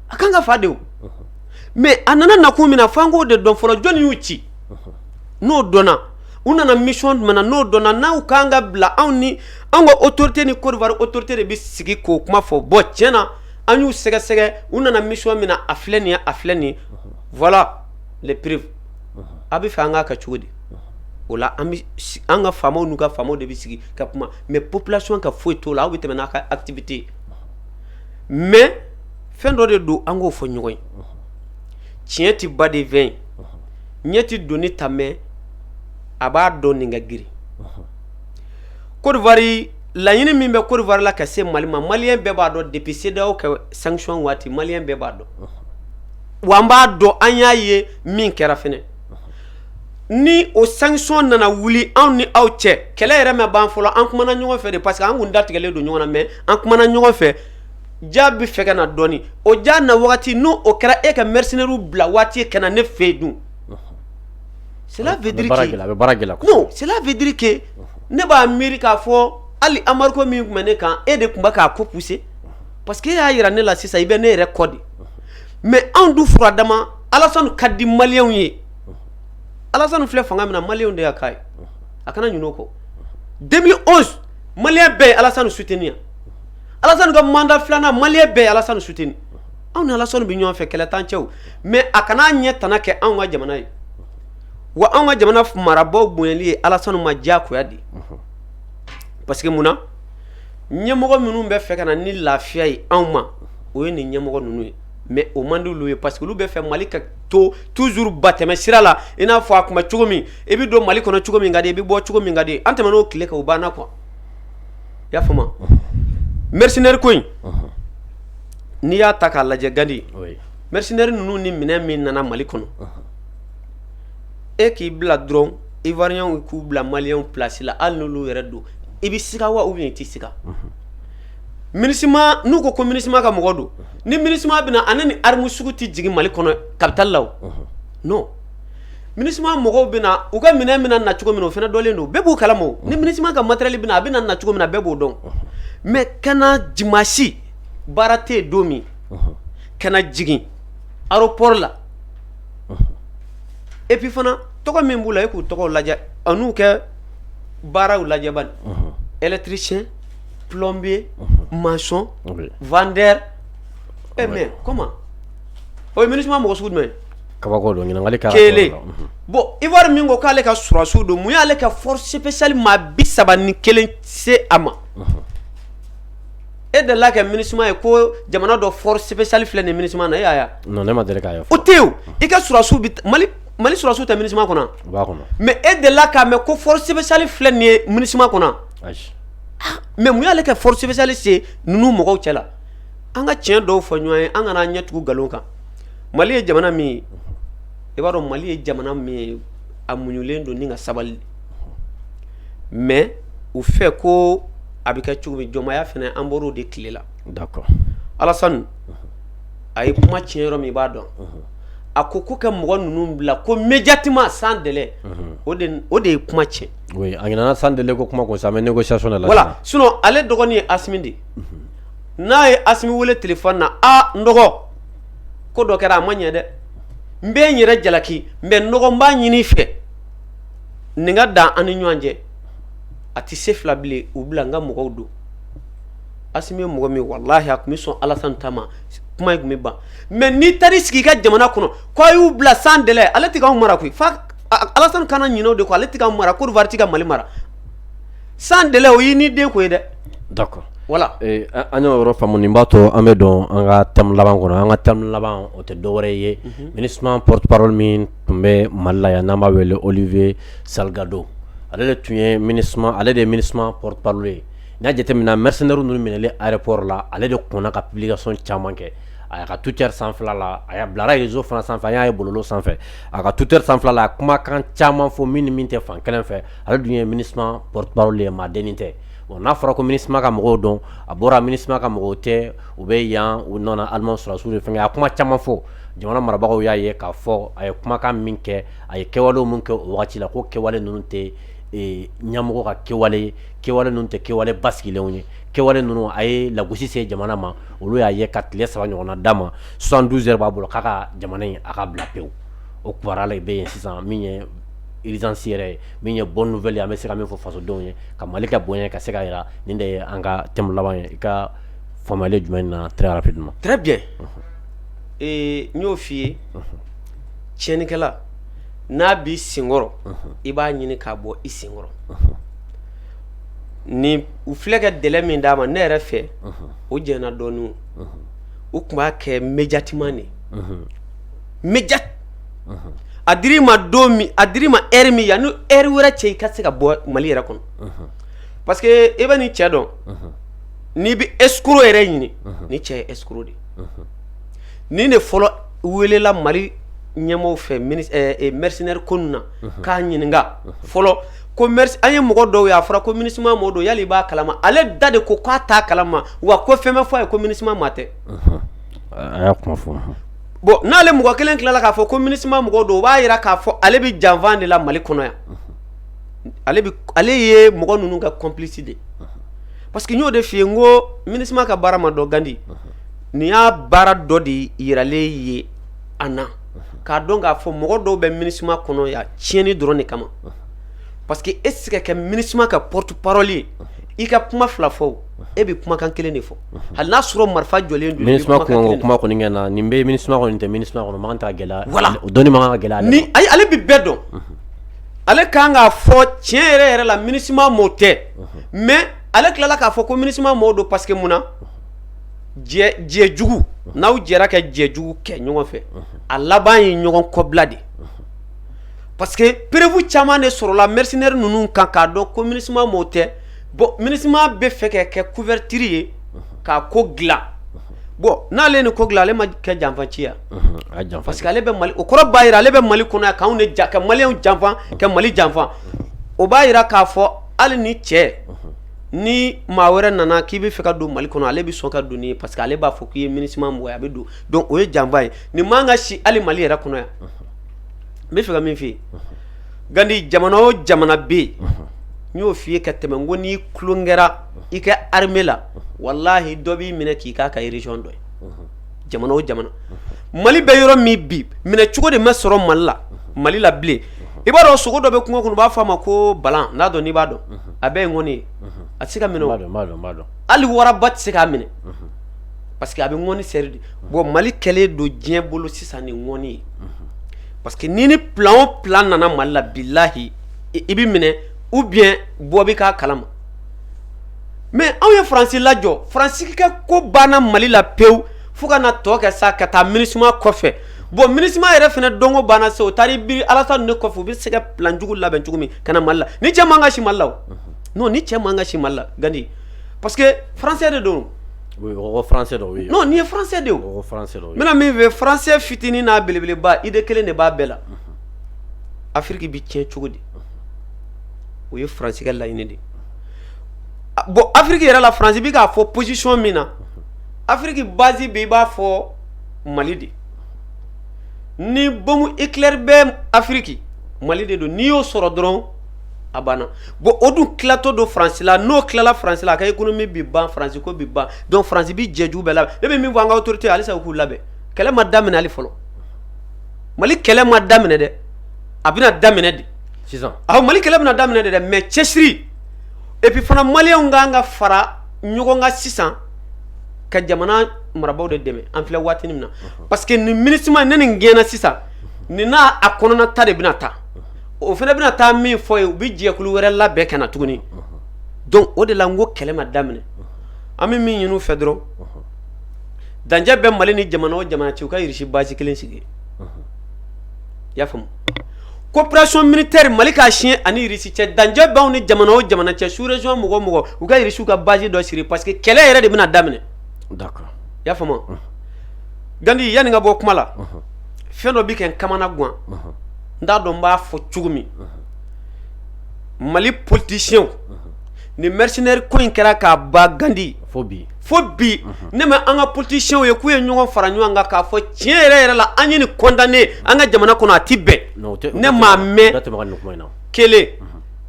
a kan ka fa de o mais a nana nakun min na f'an k'o de dɔn fɔlɔ jɔni y'u ci n'o dɔnna u nana mission jumɛn na n'o dɔnna n'u kan ka bila anw ni an ka autorité ni côte d'ivoire autorité de bɛ sigi k'o kuma fɔ bon tiɲɛ na an y'u sɛgɛsɛgɛ u nana mission min na a filɛ nin ye a filɛ nin ye voilà les preuves a bɛ fɛ an k'a kɛ cogo di o la an ka faamaw n'u ka faamaw de bɛ sigi ka kuma mais population ka foyi t'o la aw bɛ tɛmɛ n'a ka activité ye mais fɛn dɔ de don an k'o fɔ ɲɔgɔn ye tiɲɛ tɛ badenw ɲɛ tɛ doni ta mais a b'a dɔn nin ka girin côte d'ivoire laɲini min bɛ côte d'ivoire la ka se mali ma maliyɛn bɛɛ b'a dɔn depuis cedeao ka sanction waati maliyɛn bɛɛ b'a dɔn wa an b'a dɔn an y'a ye min kɛra fɛnɛ ni o sanction nana wuli anw ni aw cɛ kɛlɛ yɛrɛ ma ban fɔlɔ an kumana ɲɔgɔn fɛ de parce que an kun datigɛlen don ɲɔgɔn na mais an kumana ɲɔgɔn fɛ diya bɛ fɛ ka na dɔɔnin o diya na waati n'o o kɛra e ka mercenairew bila waati ka na ne fɛ yen dun cela veut dire que ne b'a miiri k'a fɔ hali embargo min tun bɛ ne kan e de tun bɛ k'a ko pousser parce que e y'a jira ne la sisan i bɛ ne yɛrɛ kɔ de mais anw dun fura dama alasani ka di maliyɛnw ye alasani filɛ fanga min na maliyɛnw de y'a k'a ye a kana ɲinɛ o kɔ deux mille onze maliyɛn bɛɛ ye alasani soutenir alasani ka mandat filanan maliyɛn bɛɛ ye alasani soutenir anw ni alasani bɛ ɲɔgɔn fɛ kɛlɛ t'an cɛ o mais a kana an ɲɛ tana kɛ anw ka jamana ye wa anw ka jamana marabagaw bonyali ye alasani ma diyagoya de parce que mun na ɲɛmɔgɔ minnu bɛ fɛ ka na ni lafiya ye anw ma o ye nin ɲɛmɔgɔ ninnu ye mais o man di olu ye parce que olu bɛ fɛ mali ka to toujours ba tɛmɛ sira la i n'a fɔ a tun bɛ cogo min i bɛ don mali kɔnɔ cogo min ka di i bɛ bɔ cogo min ka di an tɛmɛn'o tile kan o banna quoi i y'a faamu mercenaire ko in n'i y'a ta k'a lajɛ gandi mercenaire ninnu ni minɛn min nana mali kɔnɔ e k'i bila dɔrɔn ivoiriens k'u bila maliens place la hali n'olu yɛrɛ don i bɛ siga wa ou bien i tɛ siga minusma n'u ko ko minusma ka mɔgɔ don ni minusma bɛna ani nin arme sugu tɛ jigin mali kɔnɔ capitale la o non minusma mɔgɔw bɛ na u ka minɛn bɛna na cogo min o fana dɔlen don bɛɛ b'u kalama o ni minusma ka matériel bɛna a bɛ na cogo min na bɛɛ b'o dɔn mais ka na dimanche baara tɛ don min ka na jigin aéroport la et puis fana tɔgɔ min b'u la e k'u tɔgɔ lajɛ an'u kɛ baaraw lajɛ bani électricien plombier maçon vendeur mais comment o ye minusma mɔgɔ sugu jumɛn kabako kelen bon ivoire min ko k'ale ka sɔrɔsiw don mun y'ale ka force spéciale maa bi saba ni kelen se a ma e delila ka minusma ye ko jamana dɔ force spéciale filɛ nin minusma na e ne ma deli k'a ye o tɛ i ka sɔrɔsiw bɛ mali mali sɔrɔsiw tɛ minusma kɔnɔ o b'a kɔnɔ mais e delila k'a mɛn ko force spéciale filɛ nin ye minusma kɔnɔ mais mun y'ale ka force spéciale se ninnu mɔgɔw cɛ la an ka tiɲɛ dɔw fɔ ɲɔgɔn ye an kana an ɲɛ tugu nkalon kan mali ye jamana min ye i b'a dɔn mali ye jamana min ye a muɲulen don ni ka sabali mais u fɛ ko a bɛ kɛ cogo min jɔnmaya fana an bɔr'o de tile la d'accord alasani a ye kuma tiɲɛ yɔrɔ min i b'a dɔn a ko ko kɛ mɔgɔ ninnu bila ko immédiatement sans délai o de ye kuma tiɲɛ a sans délai ko kuma ko sa mais négociation la voilà sinon ale dɔgɔnin ye asimi de n'a ye asimi weele téléphone na a n dɔgɔ ko dɔ kɛra a ma ɲɛ dɛ n bɛ n yɛrɛ jalaki mais n dɔgɔ n b'a ɲini i fɛ nin ka dan an ni ɲɔgɔn cɛ a tɛ se fila bilen u bila n ka mɔgɔw don asimi ye mɔgɔ min wallahi a tun bɛ sɔn alasani ta ma kuma in tun bɛ ban mais n'i taar'i sigi i ka jamana kɔnɔ k'a y'u bila sans délai ale tɛ k'anw mara koyi fa alasani kana ɲinɛ o de kɔ ale tɛ k'anw mara côte d'ivoire tɛ ka mali mara sans délai o ye ni den ko ye dɛ d'accord voilà an y'o yɔrɔ faamu nin b'a to an bɛ don an ka thème laban kɔnɔ an ka thème laban o tɛ dɔwɛrɛ ye minusma porte parole min tun bɛ mali la yan n'an b'a wele olivier salgado ale de tun ye mini ale de ye minusma porte parole ye n'a jateminɛna mercenaires ninnu minɛli aéroport la ale de kɔnna ka publication caman kɛ a ka twitter sanfɛla la a bilara réseau fana sanfɛ an y'a ye bɔlɔlɔ sanfɛ a ka twitter sanfɛla la a kumakan caman fɔ min ni min tɛ fan kelen fɛ Ale dun ye minusma porte parole ye maa dennin tɛ bon n'a fɔra ko minusma ka mɔgɔw don a bɔra minusma ka mɔgɔw tɛ u bɛ yan u nana allemand sɔrɔdasiw de fɛ a kuma caman fɔ jamana marabagaw y'a ye k'a fɔ a ye kumakan min kɛ a ye kɛwale min kɛ o waati la ko kɛwale ninnu tɛ ɲɛmɔgɔ ka kɛwale ye kɛwale ninnu tɛ kɛwale basigilenw ye kɛwale ninnu a ye lagosi se jamana ma olu y'a ye ka tile saba ɲɔgɔn d'a ma soixante douze heures b'a bolo k'a ka jamana in a ka bila pewu o kibaruya la bɛ yen sisan min ye yɛrɛ ye min ye bɔfɛ an bɛ se min fɔ fasodenw ye ka mali ka bonya ka se ka jira nin de ye an ka tɛmɛ laban ye i ka fa jumɛn in na mare ee n y'o fɔi ye cɛinkɛla n'a bɛ senkɔrɔ i b'a ɲini k'a bɔ i senkɔrɔ ni u filɛkɛ dɛ min d'a ma ne yɛrɛ fɛ o jɛnɛ dɔɔnin u tun b'a kɛ mjati de mja a dir'i ma don a dir'i ma heure min yanni heure wɛrɛ cɛ i ka se ka bɔ mali yɛrɛ kɔnɔ parce que i bɛ nin cɛ dɔn n'i bɛ escroc yɛrɛ ɲini nin cɛ ye escroc de nin de fɔlɔ welela mali ɲɛmɔgɔw fɛ mercenaire ko in na k'a ɲininka fɔlɔ ko an ye mɔgɔ dɔw ye a fɔra ko minusma mɔgɔ don yali i b'a kalama ale da de ko k'a t'a kalama wa ko fɛn bɛ fɔ a ye ko minusma maa tɛ bon n'ale mɔgɔ kelen tilala k'a fɔ ko minusma mɔgɔ don o b'a jira k'a fɔ ale bɛ janfa de la mali kɔnɔ yan ale ye mɔgɔ ninnu ka complice de parce que n y'o de fɔ i ye n ko minusma ka baara ma dɔn gandi nin y'a baara dɔ de jiralen ye an na k'a dɔn k'a fɔ mɔgɔ dɔw bɛ minusma kɔnɔ yan tiɲɛni dɔrɔn de kama parce que e tɛ se ka kɛ minusma ka porte parole ye i ka kuma fila fɔ e bɛ kumakan kelen de fɔ hali n'a sɔrɔ marifa jɔlen don ni kuma kɔni kɛ na nin bɛ minusma kɔnɔ nin tɛ minusma kɔnɔ man kan ka gɛlɛya voilà o dɔnni man kan ka gɛlɛya ni ayi ale bɛ bɛɛ dɔn ale ka kan k'a fɔ tiɲɛ yɛrɛ yɛrɛ la minusma mɔgɔ tɛ mais ale tilala k'a fɔ ko minusma maaw don parce que mun na jɛ jugu n'aw jɛra ka jɛ jugu kɛ ɲɔgɔn fɛ a laban ye ɲɔgɔn kɔbila de parce que preuve caman de sɔrɔla mercenaires ninnu kan k'a dɔn ko minusma mɔgɔ tɛ bon minisima bɛ fɛ ka kɛ couverture ye k'a ko dilan bon n'ale ni ko dilan ale ma kɛ janfaci ye parce que ale bɛ mali o kɔrɔ b'a jira ale bɛ mali kɔnɔ k'an de ja ka mali janfa ka mali janfa o b'a jira k'a fɔ hali ni cɛ ni maa wɛrɛ nana k'i bɛ fɛ ka don mali kɔnɔ ale bɛ sɔn ka don ye parce que ale b'a fɔ k'i ye minisima mɔgɔ ye a bɛ don donc o ye janfa ye nin man ka si hali mali yɛrɛ kɔnɔ yan n bɛ fɛ ka min f'i ye gandi jamana o jamana bɛ yen n y'o f'i ye ka tɛmɛ ko n'i tulon kɛra i ka armée la walahi dɔ b'i minɛ k'i k'a ka région dɔ ye jamana o jamana mali bɛ yɔrɔ min bi minɛ cogo de ma sɔrɔ mali la mali la bilen i b'a dɔn sogo dɔ bɛ kungo kɔnɔ u b'a fɔ a ma ko bala n'a dɔn n'i b'a dɔn a bɛɛ ye ŋɔni ye a tɛ se ka dun hali waraba tɛ se k'a minɛ parce que a bɛ ŋɔni seri de bon mali kɛlen don diɲɛ bolo sisan ni ŋɔni ye parce que ni ni plan o plan nana mali la bilahi i bɛ minɛ ou bien bɔ bɛ k'a kalama mais anw ye faransi lajɔ faransi ka ko banna mali la pewu fo ka na tɔ kɛ sa ka taa minisuma kɔfɛ bon minisima yɛrɛ fana dun ko banna se o taara biri alassane ne kɔfɛ u bɛ se ka plan jugu labɛn cogo min ka na mali la nin cɛ man ka si mali la o non nin cɛ man ka si mali la gandi parce que faransɛ de don N' ye bɛna min fɛ faransɛ fitinin n'a belebeleba idée kelen de b'a bɛɛ la afiriki bɛ tiɲɛ cogo di o ye faransi ka laɲini de bon afiriki yɛrɛ la faransi bɛ k'a fɔ position min na afiriki basi bɛ i b'a fɔ mali de ni bombe nucléaire bɛ afiriki mali de don n'i y'o sɔrɔ dɔrɔn a banna bon o dun tilatɔ don faransi la n'o tilala faransi la a ka économie bɛ ban faransi ko bɛ ban donc faransi bɛ jɛ jugu bɛɛ labɛn ne bɛ min fɔ an ka autorité ye halisa u k'u labɛn kɛlɛ ma daminɛ hali fɔlɔ mali kɛlɛ ma daminɛ dɛ a bɛna daminɛ de sisan awɔ mali kɛlɛ bɛna daminɛ de dɛ mais cɛsiri et puis fana maliyɛnw ka kan ka fara ɲɔgɔn kan sisan ka jamana marabaaw de dɛmɛ an filɛ waati min na parce que nin minisima ne nin gɛnna sisan nin n'a a kɔnɔna ta de bɛna taa o fana bɛna taa min fɔ ye u bɛ jɛkulu wɛrɛ labɛn ka na tuguni donc o de la n ko kɛlɛ ma daminɛ an bɛ min ɲini u fɛ dɔrɔn dancɛ bɛ mali ni jamana o jamana cɛ u ka irisi basi kelen sigi i y'a faamu coopération militaire mali k'a siɲɛ ani irisi cɛ dancɛ b'anw ni jamana o jamana cɛ sous région mɔgɔ o mɔgɔ u ka irisiw ka basi dɔ sigi parce que kɛlɛ yɛrɛ de bɛna daminɛ i y'a faamu gandi yanni n ka bɔ kuma la fɛn dɔ bɛ kɛ n kamana gan n t'a dɔn n b'a fɔ cogo min mali politicienw ni mercenaire ko in kɛra k'a ba gandi fo bi ne ma an ka politicienw ye k'u ye ɲɔgɔn fara ɲɔgɔn kan k'a fɔ tiɲɛ yɛrɛ yɛrɛ la an ye nin condamner an ka jamana kɔnɔ a tɛ bɛn ne m'a mɛn kelen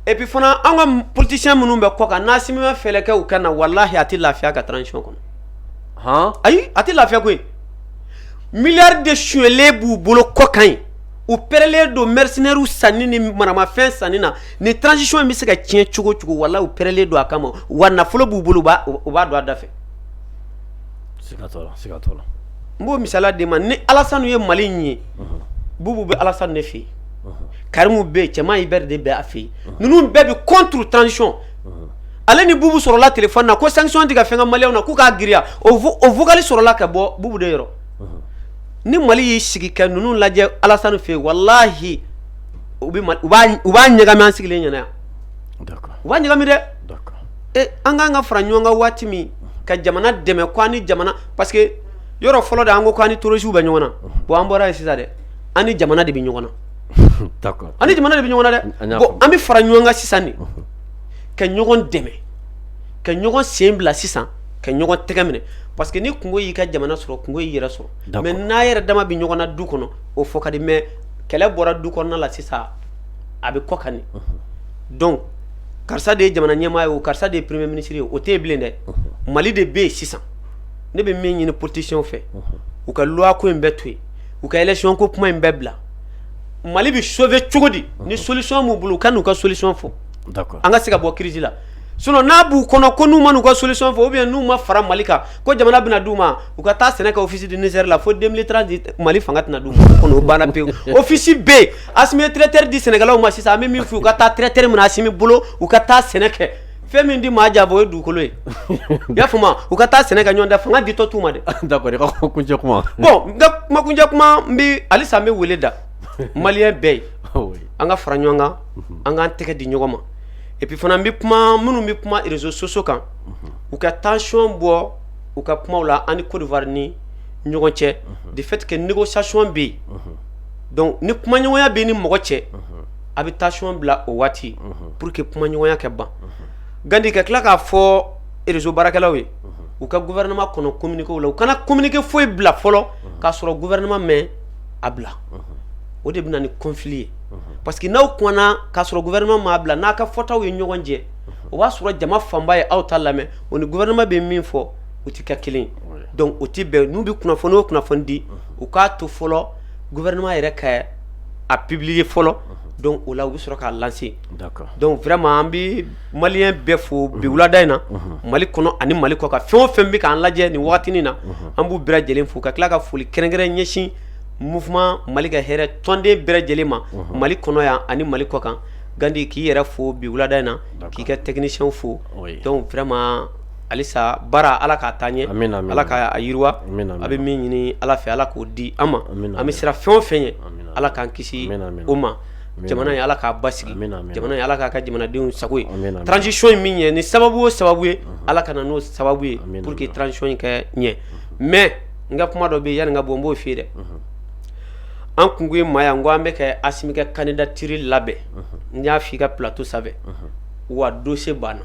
et puis fana an ka politicien minnu bɛ kɔ kan n'Assimi ma fɛɛrɛ kɛ u ka na walahi a tɛ lafiya ka transition kɔnɔ ayi a tɛ lafiya koyi Milliards de suɲɛlen b'u bolo kɔkan yen u pɛrɛlen don mercenairew sanni ni maramafɛn sanni na ni transition in bɛ se ka tiɲɛ cogo cogo walahi u pɛrɛlen don a kama wa nafolo b'u bolo u b'a don a da fɛ n b'o misali d'e ma ni Alassane ye mali in ye bubu bɛ Alassane de fɛ yen karimu bɛ yen Tiéman Hubert bɛ a fɛ yen ninnu bɛɛ bɛ contre transition ale ni bubu sɔrɔla téléphone na ko sanction tɛ ka fɛn kɛ maliyɛnw na k'u k'a giriya o vocal sɔrɔla ka bɔ bubu de yɔrɔ ni mali y'i sigi ka ninnu lajɛ Alassane fɛ yen walahi u b'a ɲagami an sigilen ɲɛna yan u b'a ɲagami dɛ e an k'an ka fara ɲɔgɔn kan waati min ka jamana dɛmɛ ko an ni jamana parce que yɔrɔ fɔlɔ de an ko k'an ni terroristew bɛ ɲɔgɔn na bon an bɔra yen sisan dɛ an ni jamana de bɛ ɲɔgɔn na an ni jamana de bɛ ɲɔgɔn na dɛ bon an bɛ fara ɲɔgɔn kan sisan de ka ɲɔgɔn dɛmɛ ka ɲɔgɔn sen bila sisan ka ɲɔgɔn tɛgɛ minɛ parce que ni kunko y'i ka jamana sɔrɔ kunko y'i yɛrɛ sɔrɔ mais n'a yɛrɛ dama bɛ ɲɔgɔn na du kɔnɔ o fɔ ka di mais kɛlɛ bɔra du kɔnɔna la sisan a bɛ kɔkan yen donc karisa de ye jamana ɲɛmaa ye o karisa de ye premier ministre ye o tɛ yen bilen dɛ mali de bɛ yen sisan ne bɛ min ɲini politicienw fɛ u ka loi ko in bɛɛ to yen u ka élection ko kuma in bɛɛ bila mali bɛ sauver cogo di ni solution b'u bolo u ka n'u ka solution fɔ an ka se ka bɔ crise la sinon n'a b'u kɔnɔ ko n'u ma n'u ka solution fɔ ou bien n'u ma fara mali kan ko jamana bɛna d'u ma u ka taa sɛnɛ kɛ Office du Niger la fo deux mille trente mali fanga tɛna d'u ma kɔni o banna pewu ofisi bɛ yen Assimi bɛ tracteur di sɛnɛkɛlaw ma sisan an bɛ min fɔ u ka taa tracteur minɛ Assimi bolo u ka taa sɛnɛ kɛ fɛn min di maa jabɔ o ye dugukolo ye i y'a faamu u ka taa sɛnɛ kɛ ɲɔ dan fanga ditɔ t'u ma dɛ d'accord i ka kuncɛ kuma bon n ka kuma kuncɛ kuma n bɛ halisa n bɛ wele da maliyɛn bɛɛ ye oh, an ka fara ɲɔgɔn kan mhm. an k'an tɛgɛ di ɲɔgɔn ma et puis fana n bɛ kuma minnu bɛ kuma réseaux sociaux kan mhm. u ka tension bɔ u ka kumaw la an ni Côte d'Ivoire ni ɲɔgɔn cɛ mhm. de fait que négociation bɛ yen donc ni kumaɲɔgɔnya bɛ ni mɔgɔ cɛ a bɛ tension bila o waati pour que kumaɲɔgɔnya kɛ ban gandi ka tila k'a fɔ réseau baarakɛlaw ye u ka gouvernement kɔnɔ kominikew la u kana kominike foyi bila fɔlɔ k'a sɔrɔ gouvernement ma a bila o de bɛ na ni conflit ye parce que n'aw kumana k'a sɔrɔ gouvernement m'a bila n'a ka fɔtaw ye ɲɔgɔn jɛ o b'a sɔrɔ jama fanba ye aw ta lamɛn o ni gouvernement bɛ min fɔ u tɛ kɛ kelen donc o tɛ bɛn n'u bɛ kunnafoni o kunnafoni di u k'a to fɔlɔ gouvernement yɛrɛ ka a publier fɔlɔ donc o la u bɛ sɔrɔ k'a lancer donc vraiment an bɛ maliyɛn bɛɛ fo bi wulada in na mali kɔnɔ ani mali kɔ kan fɛn o fɛn bɛ k'an lajɛ nin wagatinin na an b'u bɛɛ lajɛlen fo ka tila ka foli kɛrɛnkɛrɛn ɲɛsin mouvement mali ka hɛrɛ tɔnden bɛɛ lajɛlen ma mali kɔnɔ yan ani mali kɔ kan gandi k'i yɛrɛ fo bi wulada in na k'i ka technicienw fo donc vraiment halisa baara ala k'a taa ɲɛ ala k'a yiriwa a bɛ min ɲini ala fɛ ala k'o di an ma an bɛ siran fɛn o fɛn ɲɛ ala k'an kisi o ma jamana ye ala k'a basigi jamana ye ala k'a kɛ jamanadenw sago ye transition in min ɲɛ ni sababu o sababu ye ala ka na n'o sababu ye pour que transition in ka ɲɛ mais n ka kuma dɔ bɛ yanni n ka bɔ n b'o f'i ye dɛ an kun ye maa yan n ko an bɛ ka asimi ka candidature labɛn n y'a fɔ i ka plateau sanfɛ wa dossier banna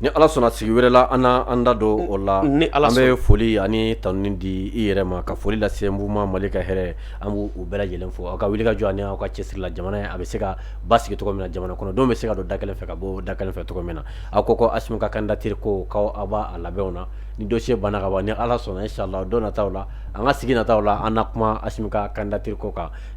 Ni ala sɔnna sigi wɛrɛ la an an da don o la an bɛ foli ani tanuni di i yɛrɛ ma ka foli lase mouvement mali ka hɛrɛ an b' u bɛɛ lajɛlen fo aw ka wuli ka jɔ ani aw ka cɛsiri la jamana ye a bɛ se ka basigi cogo min na jamana kɔnɔ dɔ bɛ se ka don da kelen fɛ ka bɔ da kelen fɛ cogo min na aw ko asimi ka candidature ko k'aw b'a labɛnw na ni dossier banna ka ban ni ala sɔnna inchallah don nataw la an ka sigi nataw la an na kuma asimi ka candidature ko kan